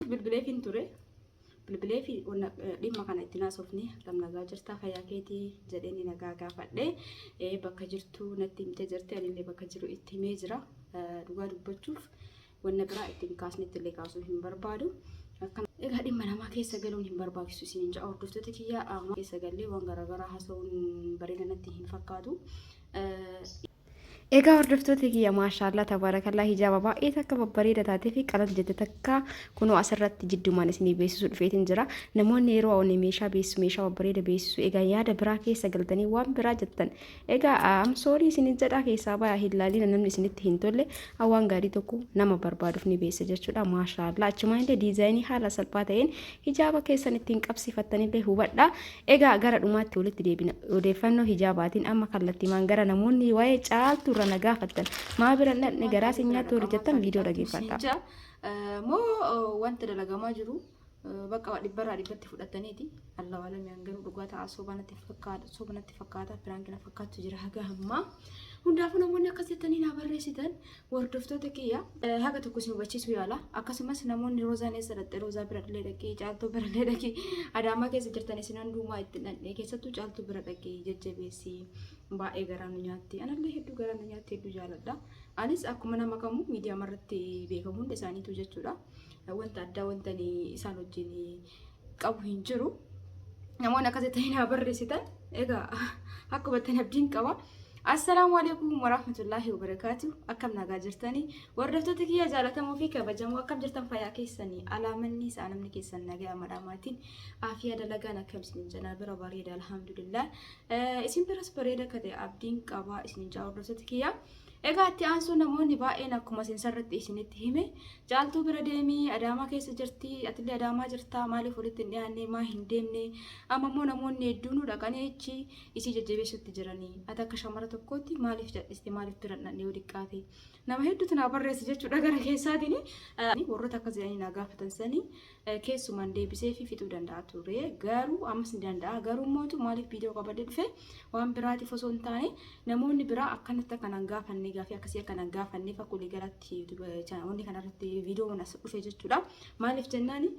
Bilbileefiin ture. Bilbilee fi dhimma kana itti naasofne akkam nagaa jirtaa fayyaa keetii jedhee ni nagaa gaafadhe bakka jirtu natti himte jirti anillee bakka jiru itti himee jira dhugaa dubbachuuf wanna biraa itti hin kaasnetti illee kaasuu hin barbaadu. Egaa dhimma namaa keessa galuun hin barbaachisu isin hin ja'a hordoftoota kiyyaa keessa gallee waan garaagaraa haasa'uun bareeda natti hin fakkaatu. Egaa hordoftoota kiyya maashaallaa tabaarakallaa hijaaba baay'ee takka babbareeda taatee fi qalal jette takka kunoo asirratti jiddumaan isinii beeksisuu dhufeetiin jira. Namoonni yeroo awwanne meeshaa beeksisu meeshaa babbareeda beeksisu egaa yaada biraa keessa galtanii waan biraa jettan. Egaa amsoorii isinin jedhaa keessaa bayaa hin laaliina namni isinitti hin tolle awwaan gaarii tokko nama barbaaduuf ni beeksisa jechuudha. Maashaallaa achumaan illee diizaayinii haala salphaa ta'een hijaaba keessan ittiin qabsiifattanillee hubadha. Egaa gara dhumaatti walitti deebina. Odeeffannoo hijaabaatiin amma kallattimaan gara namoonni waa'ee caaltuu irra na gaafattan maa bira hin dhaqne garaa si nyaatti warri jettan viidiyoo dhageeffadha. Moo wanta dalagamaa jiru bakka waa dhibbarraa dhibbatti fudhataniiti. Allahu alam yaan garuu dhugaa ta'a soba natti fakkaata soba natti fakkaata piraanki na fakkaatu jira haga ammaa. Hundaafuu namoonni akkas jettanii naa barreessitan Hordoftoota kiyya haga tokko isin hubachiisuu yaala. Akkasumas namoonni Roozaan eessa dhaqxe Roozaa bira illee dhaqee caaltuu bira illee dhaqee Adaamaa keessa jirtan isin hundumaa itti dhaqne keessattuu caaltuu bira dhaqee jajjabeessi baay'ee garaa nu nyaatti. Anallee hedduu garaa nu nyaatti hedduu jaaladha. Anis akkuma nama kamuu miidiyaa irratti beekamu hunda isaaniitu jechuudha. Wanta addaa wanta isaan wajjin qabu hin jiru. Namoonni akkasii ta'ee naa barreessitan egaa akka hubattan abdiin qaba. Assalaamu alaikum warahmatullaahi wabarakaatu. Akkam nagaa jirtanii? Hordoftoota kiyya jaalatamoo fi kabajamoo akkam jirtan fayyaa keessanii? Alaamanni isaa namni keessan nagaa madhaamaatiin aafiyaa dalagaan akkam isin janaa bira bareeda alhamdulillah. Isin biras bareeda akka ta'e abdiin qaba isin jaa hordoftoota kiyya. Egaa itti aansuun namoonni baay'een akkuma sensarratti isinitti hime caaltuu bira deemii adaamaa keessa jirti atillee adaamaa jirtaa maaliif walitti hin dhiyaanne maa hin deemne amma immoo namoonni hedduunuu dhaqanii achi isii jajjabeessutti jiranii ati akka shamara tokkootti maaliif cadhiste maaliif bira hin dhaqne yoo diqqaate nama hedduutu naa barreesse jechuudha gara keessaatiin warroota akkas jedhanii naa gaafatan sanii keessuman deebisee fi fixuu danda'a ture garuu ammas ni danda'a garuu mootu maaliif viidiyoo qabadhe dhufe waan biraatiif osoo hin taane namoonni biraa akkanatti akka nan gaafanne gaafii akkasii akka nan gaafanne fakkuulii galatti wanni kanarratti viidiyoon as dhufe jechuudha maaliif jennaani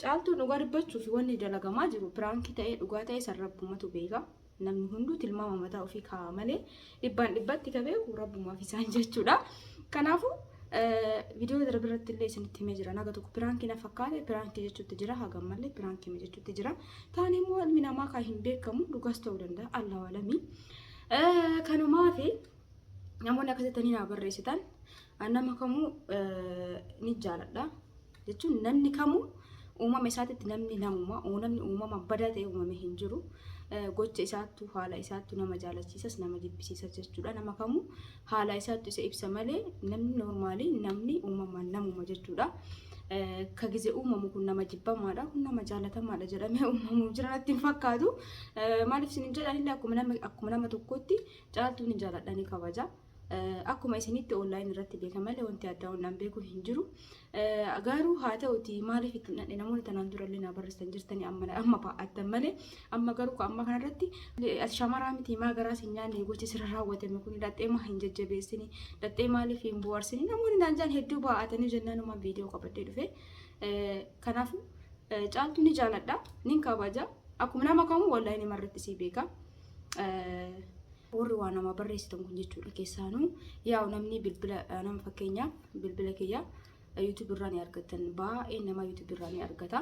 caaltuun dhugaa dubbachuu fi wanni dalagamaa jiru piraankii ta'ee dhugaa ta'ee sarrabbumatu beeka Namni hunduu tilmaama mataa ofii kaa'a malee dhibbaan dhibbatti ka beeku rabbumaaf isaan jechuudha. Kanaafuu viidiyoo darbe irratti illee isinitti himee jira. Naga tokko piraankii na fakkaate piraankii jechuutti jira hagam malee piraankii jechuutti jira. Taan immoo ilmi namaa kan hin beekamu dhugaas ta'uu danda'a allahu alamii. Kanumaaf namoonni akkasitti naa barreessitan nama kamuu ni jaaladha. jechuun namni kamuu uumama isaatitti namni namuma namni uumama badaa ta'e uumame hin jiru. Gocha isaattu haala isaattu nama jaalachiisas nama jibbisiisas jechuudha. Nama kamuu haala isaattu isa ibsa malee namni noormaalii namni uumamaan namuma jechuudha. Ka gize uumamu kun nama jibbamaadha kun nama jaalatamaadha jedhamee uumamu jira natti hin fakkaatu. Maaliif isin jedhanillee akkuma nama tokkootti caaltuu ni jaaladha ni kabaja. Akkuma isinitti online irratti beeka malee wanti addaa waan an beeku hin jiru. Garuu haa ta'uti maaliif itti hin dhaqne namoonni tanaan dura illee naa barreessan jirtanii amma amma baa'attan malee amma garuu ka amma kanarratti ati shamaraa miti maa garaa sin nyaanne gochi sirra raawwatame kun dhaxxee maa hin jajjabeessini dhaxxee maaliif hin bu'aarsini namoonni naan jaan hedduu baa'atanii jennaan umaan viidiyoo qabadhee dhufe. Kanaafuu caaltuu ni jaaladha nin kabaja akkuma nama kamuu online irratti sii beeka. warri waa namaa barreessitan kun jechuudha keessaanuu yaa'u namni bilbila nama fakkeenyaaf bilbila kiyya YouTube irraa ni argattan baay'ee nama YouTube irraa ni argata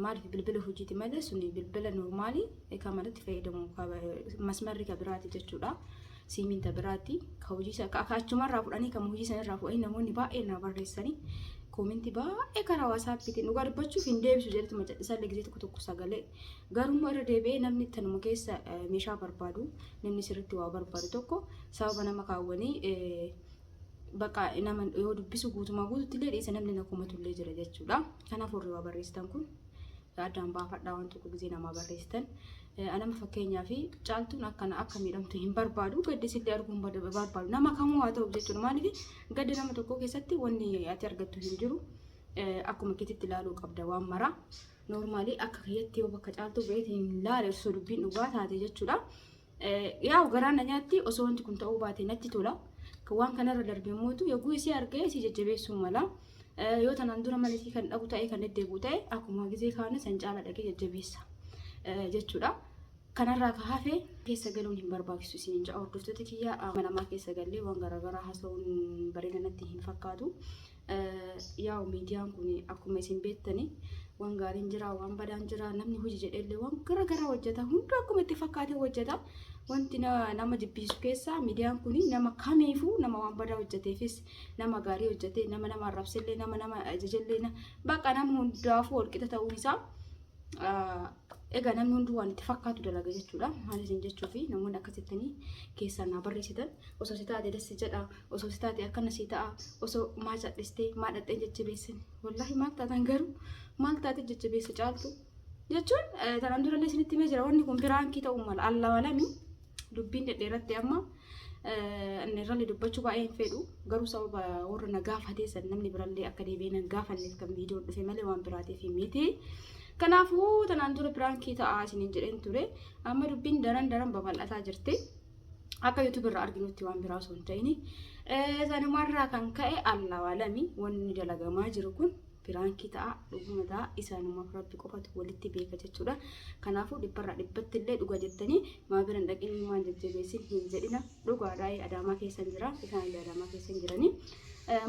maaliif bilbila hojiiti malee suni bilbila normaalii kan manatti fayyadamu masmarri kan biraati jechuudha. siimin ta biraatti ka hojii isa ka achumaa irraa fudhanii kan hojii sana irraa fudhanii namoonni baay'ee naa barreessanii koominti baay'ee karaa waasaappiitiin dhugaa dubbachuuf hin deebisu jedhetu macadhisaa illee gisee tokko tokko sagalee garuu irra deebi'ee namni tanuma keessa eh, meeshaa barbaadu namni sirriitti waa barbaadu tokko sababa nama kaawwanii eh, bakka nama yoo dubbisu guutumaa guututti illee dhiisa namni na komatu illee jira jechuudha kanaaf warri waa barreessitan kun addaan baafadhaa waan tokko gisee namaa barreessitan. Anama fakkeenyaa fi caaltuun akkana akka miidhamtu hin barbaadu gaddi sillee arguu hin barbaadu nama kamuu haa ta'u jechuudha maaliif gadda nama tokkoo keessatti wanni ati argattu hin jiru akkuma kititti ilaaluu qabda waan maraa noormaalii akka kiyyatti yoo bakka caaltuu beetiin hin laale osoo dubbiin dhugaa taate jechuudha. Yaa'u garaa na nyaatti osoo wanti kun ta'uu baate natti tola. Waan kanarra darbe immoo yogguu isii argee isii jajjabeessuu mala. Yoo tanaan dura mana isii kan dhabu ta'e kan deddeebi'u ta'e akkuma gizee kaanii san caala dhaqee jajjabeessa jechuudha. Kanarraa ka hafe keessa galuun hin barbaachisu isin hin ja'a hordoftoota kiyya amanamaa keessa gallee waan garaagaraa haasa'uun bareeda natti hin fakkaatu. Yaa'u miidiyaan kun akkuma isin beektani waan gaariin jira, waan badaan jira, namni hojii jedheellee waan gara garaa hojjeta. Hunduu akkuma itti fakkaatee hojjeta. Wanti na- nama jibbisiisu keessaa miidiyaan kun nama kamiifuu nama waan badaa hojjeteefis nama gaarii hojjetee nama nama arrabsellee nama nama ajajellee na- bakka nama hundaafuu walqixa ta'uun isaa ah, egaa namni hunduu waan itti fakkaatu dalaga jechuudha. Maal isin jechuufi namoonni akkasittanii keessaa naa barreessitan osoo si taate dassi jedha. osoo si taate akkana si ta'a osoo maa cadhistee maa dhaqxee jajjabeessin wallaahi maal taatan garuu maal taate jajjabeessa caaltu jechuun tanaan durallee isinitti himee jira wanni kun piraankii ta'uu mala alla walami dubbiin dhedheeratti amma irrallee dubbachuu baay'ee hin fedhu garuu sababa warra na gaafatee san namni birallee akka deebi'ee nan gaafanneef kan viidiyoon dhufe malee waan biraatiif miti. Kanaafuu tanaan dura piraankii ta'aa isiniin jedheen ture amma dubbiin daran daran babal'ataa jirti. akka YouTube irraa arginutti waan biraa osoo hin ta'in sanumarraa kan ka'e alla waalami wanni dalagamaa jiru kun piraankii ta'a dhuguma ta'a isaanumaaf rabbi qofatu walitti beeka jechuudha kanaafuu dhibbarraa dhibbatti illee dhuga jettanii maa biran dhaqin ilmaan jajjabeessin hin jedhina dhugaadhaa adaamaa keessan jira isaan illee adaamaa keessan jiranii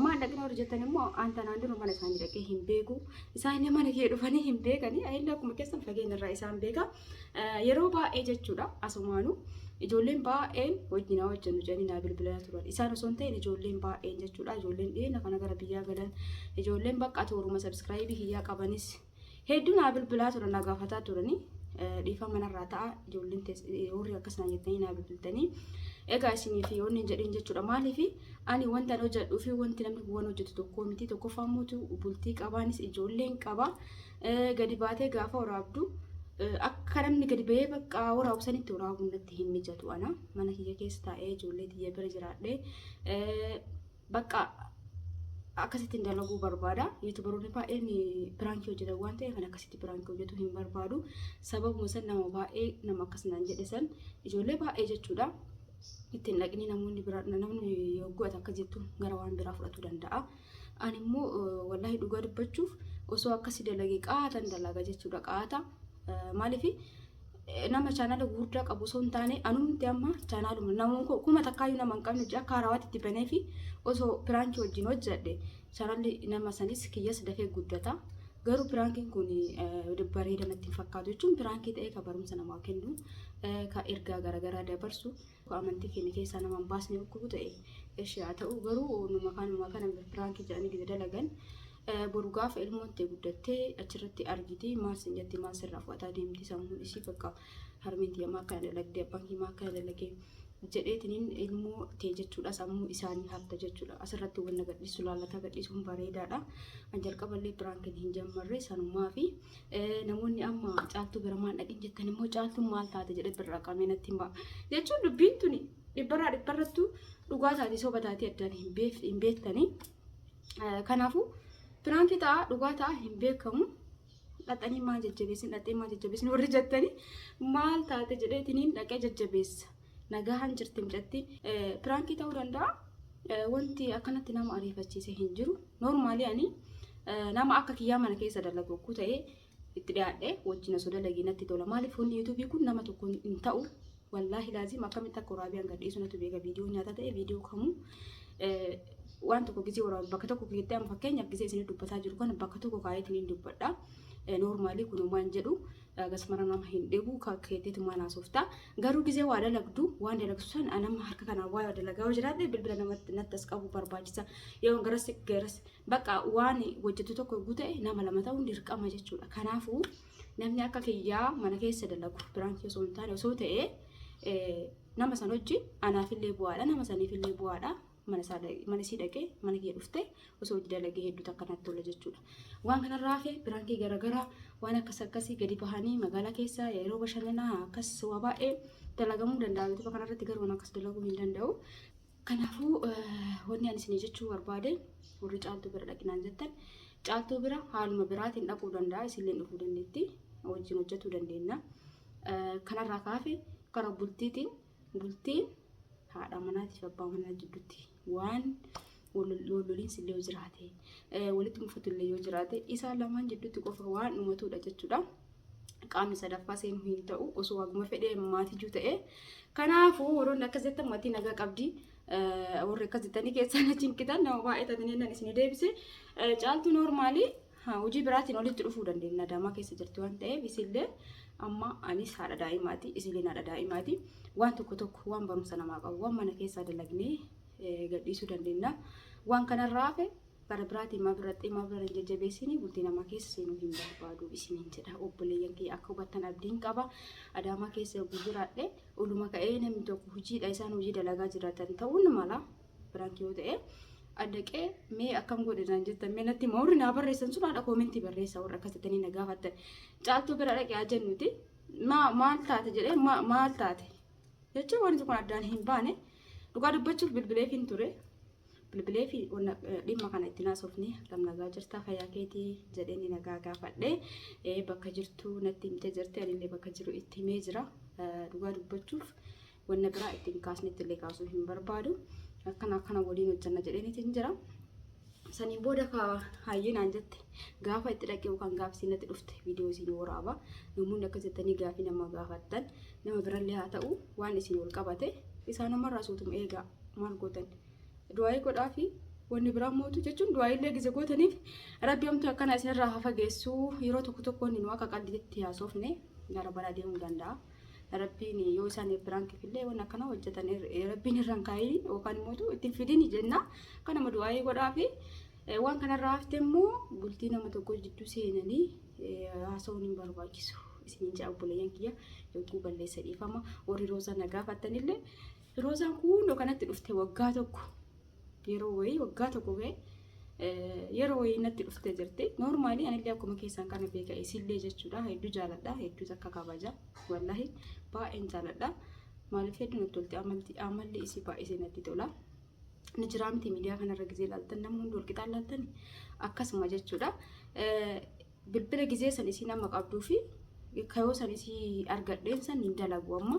maan dhaqina warri jettan immoo aan tanaan dura mana isaanii dhaqee hin beeku isaan illee mana kee dhufanii hin beekanii illee akkuma keessan fageenya irraa isaan beeka Yeroo baay'ee jechuudha asumaanu ijoolleen baay'een wajjinaa hojjennu jedhanii naa bilbilaa turan. Isaan osoo hin ta'in ijoolleen baay'een jechuudha ijoolleen dhiyeenya kana gara biyyaa galan ijoolleen bakka tooruma sabiskiraayibii kiyyaa qabanis hedduu naa bilbilaa turan naa gaafataa turanii. dhiifaa manarraa ta'a ijoolleen warri akkas naa jettanii naa bilbiltanii egaa isinii fi wanni jedhin jechuudha maaliif ani wanta hojjedhuu fi wanti namni waan hojjetu tokkoo miti tokkoffaa mootu bultii qabaanis ijoolleen qaba Gadi baatee gaafa waraabdu akka namni gadi ba'ee bakka waraabu sanitti waraabuun natti hin mijatu ana mana kiyya keessa taa'ee ijoollee tiyya bira jiraadhee bakka akkasitti hin dalaguu barbaada. Yuutubaroonni baay'een piraankii hojjetan waan ta'eef kan akkasitti piraankii hojjetu hin barbaadu. Sababuma san nama baay'ee nama akkas naan jedhe san ijoollee baay'ee jechuudha. Ittiin dhaqnii namoonni biraa namni yoo go'ate akka jettu gara waan biraa fudhatu danda'a. Ani immoo wallaahi dhugaa dubbachuuf osoo akkasi dalage qaatan dalaga jechuudha qaata. Maaliif nama chaanala gurguddaa qabu osoo hin taane anumti amma chaanaaluma namoon koo kuma takkaayyuu nama hin qabne ji'a akka harawaatti itti banee fi osoo piraankii wajjin hojjedhe chaanalli nama sanis kiyyas dafee guddata. Garuu piraankiin kun bareeda natti hin fakkaatu jechuun piraankii ta'ee kan barumsa namaa kennu kan ergaa garaagaraa dabarsu Ka amantii keenya keessaa nama hin baasne dhukkubu ta'e eshi haa ta'u garuu numa kaanuma kana piraankii jedhanii gida dalagan boru gaafa ilmoon ta'e guddattee achirratti argiti maal sin jatti maal sirraa fudhataa deemti sammuun isii bakka harmeen tiyya maa akkana dalagde abbaan kee maa akkana dalage jedheetiniin ilmoo ta'e jechuudha sammuu isaanii hafta jechuudha asirratti wanna gadhiisu laalataa gadhiisuun bareedaadha an jalqaballee piraankiin hin jammarre sanumaa fi Namoonni amma caaltuu biramaan dhaqin jettan immoo caaltuun maal taate jedhee birraa qabee natti hima. Jechuun dubbiin tuni dhibbarraa dhibbarrattuu dhugaa taate soba taatee addaan hin beef- hin beektanii. Eh, Kanaafuu piraankii ta'a dhugaa ta'a hin beekamu. Dhaxanii maal jajjabeessin dhaxee maal jajjabeessin warri jettanii maal taate jedheetiniin dhaqee jajjabeessa. Nagahaan jirti mucatti. Piraankii ta'uu danda'a. Wanti akkanatti nama ariifachiise hin jiru. Noormaalii ani nama akka kiyyaa mana keessa dalagu okkuu ta'ee itti dhiyaadhe wajjin osoo dalagii natti tola. Maaliif hundi yuutuubii kun nama tokko hin ta'u. Wallaahi laaziim akkamitti akka waraabii hanga dhiisu natu beeka viidiyoo nyaata ta'e viidiyoo kamuu waan tokko gisee waraabu bakka tokko keessatti amma fakkeenyaaf gisee isin dubbataa jiru kana bakka tokko kaa'eetiin hin dubbadha. Noormaalii kun homaa hin jedhu. Agas mara nama hin dhibuu ka keetitumaan haasoftaa garuu gizee waa dalagdu waan dalagsu san anam harka kanaan waa dalagaa yoo jiraadhe bilbila namatti natti as qabu barbaachisa yoo garas garas bakka waan hojjetu tokko yogguu ta'e nama lama ta'uun dirqama jechuudha kanaafuu namni akka kiyyaa mana keessa dalagu biraankii osoo hin taane osoo ta'e nama san hojji anaafillee bu'aadha nama saniifillee bu'aadha mana isaa dha- mana isii dhaqee mana kiyya dhuftee osoo hojii dalagee hedduu takka natti tola jechuudha. Waan kanarraa hafe piraankii garaagaraa waan akkas akkasii gadi bahanii magaalaa keessa yeroo bashannanaa akkas waa baay'ee dalagamuu danda'a. Yuutuba kanarratti garuu waan akkas dalaguu hin danda'u. Kanaafuu eh, wanni ani isinii jechuu barbaade warri caaltuu bira dhaqinaan jettan caaltuu bira haaluma biraatiin dhaquu danda'a isinleen dhufuu dandeetti wajjin hojjetuu dandeenya. Eh, Kanarraa kaafe karaa bultiitiin Bultiin haadha manaatiif abbaa manaa jidduutti waan walloliinsi illee yoo jiraate walitti mufatu illee yoo jiraate isaan lamaan jidduutti qofa waan uumatuudha jechuudha. Qaamni sadaffaa seenuu hin ta'u osoo waaguma fedhee maatii juu ta'e. Kanaafuu warroonni akkas jettan maatii nagaa qabdi. Warri akkas jettanii keessaan achi hin kitan nama baay'ee taatanii nan isin deebise. Caaltuu noormaalii hojii biraatiin walitti dhufuu dandeenya adaamaa keessa jirti waan ta'eef isillee amma anis haadha daa'imaati isilleen haadha daa'imaati waan tokko tokko waan barumsa namaa qabu waan mana keessaa dalagnee gadhiisuu dandeenya waan kanarraa hafe bara biraatiin maa birraxxee maa birra hin jajjabeessini bultii namaa keessa seenuu hin barbaadu isiniin jedha obboleeyyan kiyya akka hubattan abdiin qaba adaamaa keessa yogguu jiraadhe oluma ka'ee namni tokko hojiidha isaan hojii dalagaa jiraatan ta'uun mala Piraanki yoo ta'e addaqee mee akkam godhe naan jettan mee natti hima warri naa barreessan sun haadha koomentii barreessa warra akkas jettanii na gaafattan caaltuu bira dhaqee haa jennuti maa- maal taate jedhee ma- maal taate jechuun wanti kun addaan hin baane dhugaa dubbachuuf bilbileef hin ture bilbilee fi wanna- eh, dhimma kana itti naasofne akkam nagaa jirtaa fayyaa keetii jedhee ni nagaa gaafadhe Eh, bakka jirtu natti himte jirti anillee bakka jiru itti himee jira Eh, dhugaa dubbachuuf wanna biraa itti hin kaasnetti illee kaasuu hin barbaadu. Akkana akkana waliin hojjanna jedheeniti hin jira. Saniin booda ka hayyinaan jette gaafa itti dhaqee yookaan gaafa isin natti dhufte viidiyoo isin waraaba. Namoonni akka jettanii gaafii nama gaafattan nama birallee haa ta'u waan isin wal qabate isaanumarraa suutuma eegaa maal gootan. Du'aayii godhaa fi wanni biraa mootu jechuun du'aayiillee gise gootaniif rabbi hamtuu akkana isinirraa haa fageessu yeroo tokko tokkoon nu akka qaldiitti haasofne gara baraa deemuu danda'a. Rabbiin yoo isaan piraankiif illee waan akkana hojjetan rabbiin irraan kaa'ii yookaan immoo itti fidin jenna. Kan nama du'aa'ee godhaa fi waan kanarraa hafte immoo bultii nama tokko jidduu seenanii haasawuun hin barbaachisu. Isiniin ja'a obboleeyyan kiyya yogguu balleessa dhiifama warri roozaa na gaafattanillee roozaan kun kanatti dhufte waggaa tokko yeroo wayii waggaa tokko ga'e yeroo wayii natti dhuftee jirti. Noormaalii anillee akkuma keessan kana beeka isillee jechuudha. Hedduu jaaladha. Hedduu takka kabaja. Wallahi baay'een jaaladha. Maaliif hedduu natti tolti amalti amalli isii baay'isee natti tola. Ni jiraamti miidiyaa kanarra gisee laaltan namni hundi walqixaan laaltan akkasuma jechuudha. bilbila gizee san isiin amma qabduu fi kayoo san isii argadheen san hin dalagu amma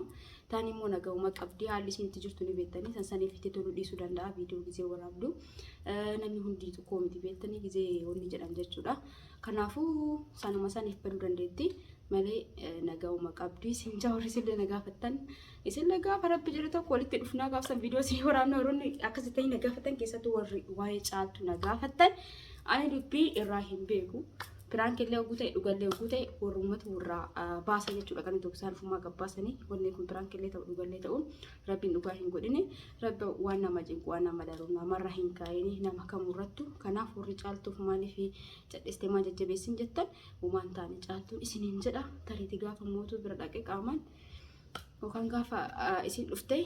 taan immoo nagahuma qabdii haalli isiin itti jirtu ni beektanii san saniif itti toluu dhiisuu danda'a viidiyoo gizee waraabdu namni hundi tokkoo miti beektanii gizee wanni jedhan jechuudha kanaafuu sanuma saniif baduu dandeetti malee nagahuma qabdii siin jaawarri sillee nagaafattan Isinle gaafa rabbi jedhe tokko walitti dhufnaa gaafa san viidiyoo isinii waraabna warroonni akkasi ta'ii na gaafatan keessattuu warri waa'ee caaltu na gaafattan ani dubbii irraa hin beeku. Piraank illee oguu ta'e dhugallee oguu ta'e warrummatu warraa baasa jechuudha kan tokko isaan ofumaa gabbaasanii wanni kun piraank illee ta'u dhugallee ta'u rabbiin dhugaa hin godhine rabbi waan nama cinqu waan nama daru namarra hin kaa'ini nama kamurrattu kanaaf warri caaltuuf maaliif cadhiste maa jajjabeessin jettan waan taane caaltuun isiniin jedha tariiti gaafa mootuu bira dhaqe qaamaan Yookaan gaafa isin dhufte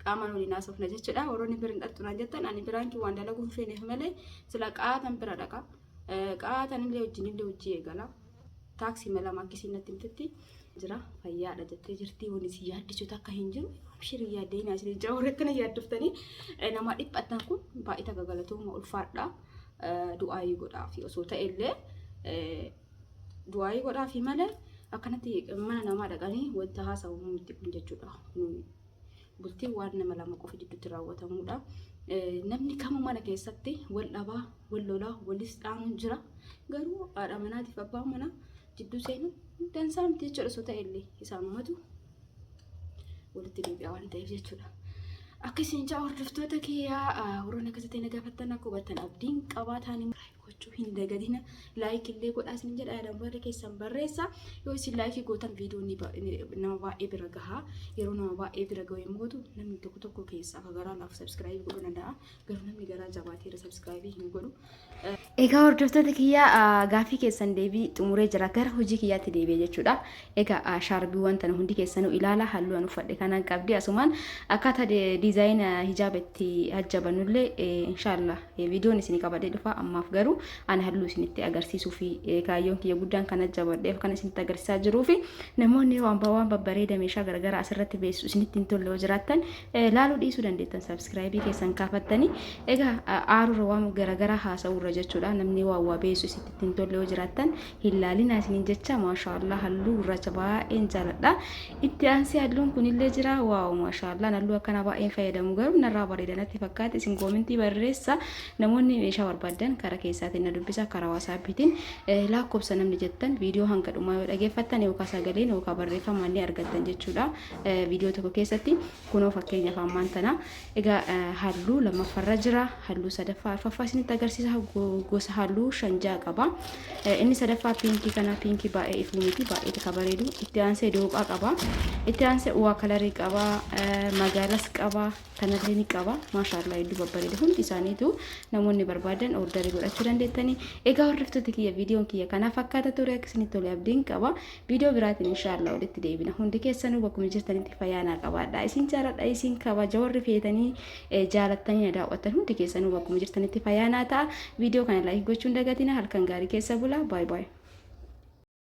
qaamaan waliin haasofna jechuudha. Warroonni bira hin dhaqxu naan jettan ani biraan waan dalaguu hin feeneef malee sila qaatan bira dhaqa. Qaatan illee wajjin illee hojii eegala. Taaksii mala makkisiin natti himtetti jira fayyaadha jettee jirti wani si yaaddisuutu akka hin jiru. Abshirii yaaddee naa isin ijaa warratti na yaaddoftanii nama dhiphattan kun baay'ee tajaajilatooma ulfaadha. Du'aayii godhaa fi osoo ta'e illee Du'aayii godhaafi malee akkanatti mana namaa dhaqanii wanta haasa'amu miti kun jechuudha. Kun bultiin waan nama lama qofa jidduutti raawwatamudha. Eh, Namni kamuu mana keessatti wal dhabaa, wal lolaa, walis dhaanuun jira. Garuu haadha manaatiif abbaan manaa jidduu seenuun dansaa miti jechuudha osoo ta'e illee isaanumatu walitti deebi'a waan ta'eef jechuudha. Akka isin ja'a hordoftoota kiyyaa warroon akkasitti na gaafattan akka hubattan abdiin qabaataan gochuu hin dagadina laayik illee godhaa isin jedha yaadaan warri keessan barreessa yoo isin laayikii gootan viidiyoo ni ba- ni- nama baay'ee bira gahaa yeroo nama baay'ee bira gahu yommuu gootu namni tokko tokko keessaa akka garaa laaf sabskraayibii godhuu danda'a garuu namni garaa jabaateera sabskraayibii hin godhu Egaa hordoftoota kiyya ah, gaaffii keessan deebii xumuree jira gara hojii kiyyaatti deebi'e jechuudha. Egaa shaarbiiwwan tana hundi keessanuu ilaalaa halluu an uffadhe kanaan qabdi asumaan akkaataa diizaayina hijaaba itti hajjabannullee inshaallah viidiyoon isin qabadhee dhufa ammaaf garuu an halluu isinitti agarsiisuu fi kaayyoon kiyya guddaan kan hajjabadheef kan isinitti agarsiisaa jiruu fi namoonni waan waan babbareeda meeshaa garagaraa asirratti beessu isinitti hin tolle yoo jiraattan laaluu dhiisuu dandeettan sabskiraayibii keessan kaafattanii egaa aarurra waan garagaraa haasa'uurra jechuudha namni waa waa beessu isinitti hin tolle yoo jiraattan hin laalinaa isiniin jecha maashaallah halluu gurraacha baay'een jaaladha itti aansee halluun kunillee jira waaw maashaallah halluu akkana baay'een fayyadamu garuu narraa bareeda natti fakkaate isin koomentii barreessa namoonni meeshaa barbaadan karaa keessaatiin na dubbisa karaa waasaappiitiin lakkoofsa namni jettan viidiyoo hanga dhumaa yoo dhageeffattan yookaan sagaleen yookaan barreeffamaan ni argattan jechuudha viidiyoo tokko keessatti Kunoo fakkeenyaaf ammaan tana egaa halluu lammaffarra jira halluu sadaffaa arfaffaa isinitti agarsiisa gosa halluu shan ja'a qaba inni sadaffaa piinkii kana piinkii baay'ee ifuu miti baay'ee tika bareedu itti aansee dooqaa qaba itti aansee uwaa kalarii qaba magaalas qaba kanallee ni qaba maashaallaa hedduu babbareeda hundi isaaniitu namoonni barbaadan ordarii godhachuu dandeettanii egaa hordoftoota kiyya viidiyoon kiyya kana fakkaata ture akka isinitti tole abdiin qaba Viidiyoo biraatiin inshaallah walitti deebina. Hundi keessanuu bakkuma jirtanitti fayyaa naa qabaadha. Isin jaaladha isin kabaja warri feetanii eh, jaalattanii na daawwattan hundi keessanuu bakkuma jirtanitti fayyaa naa ta'a. Viidiyoo kana laayik gochuun dagatina halkan gaarii keessa bula. Baay baay.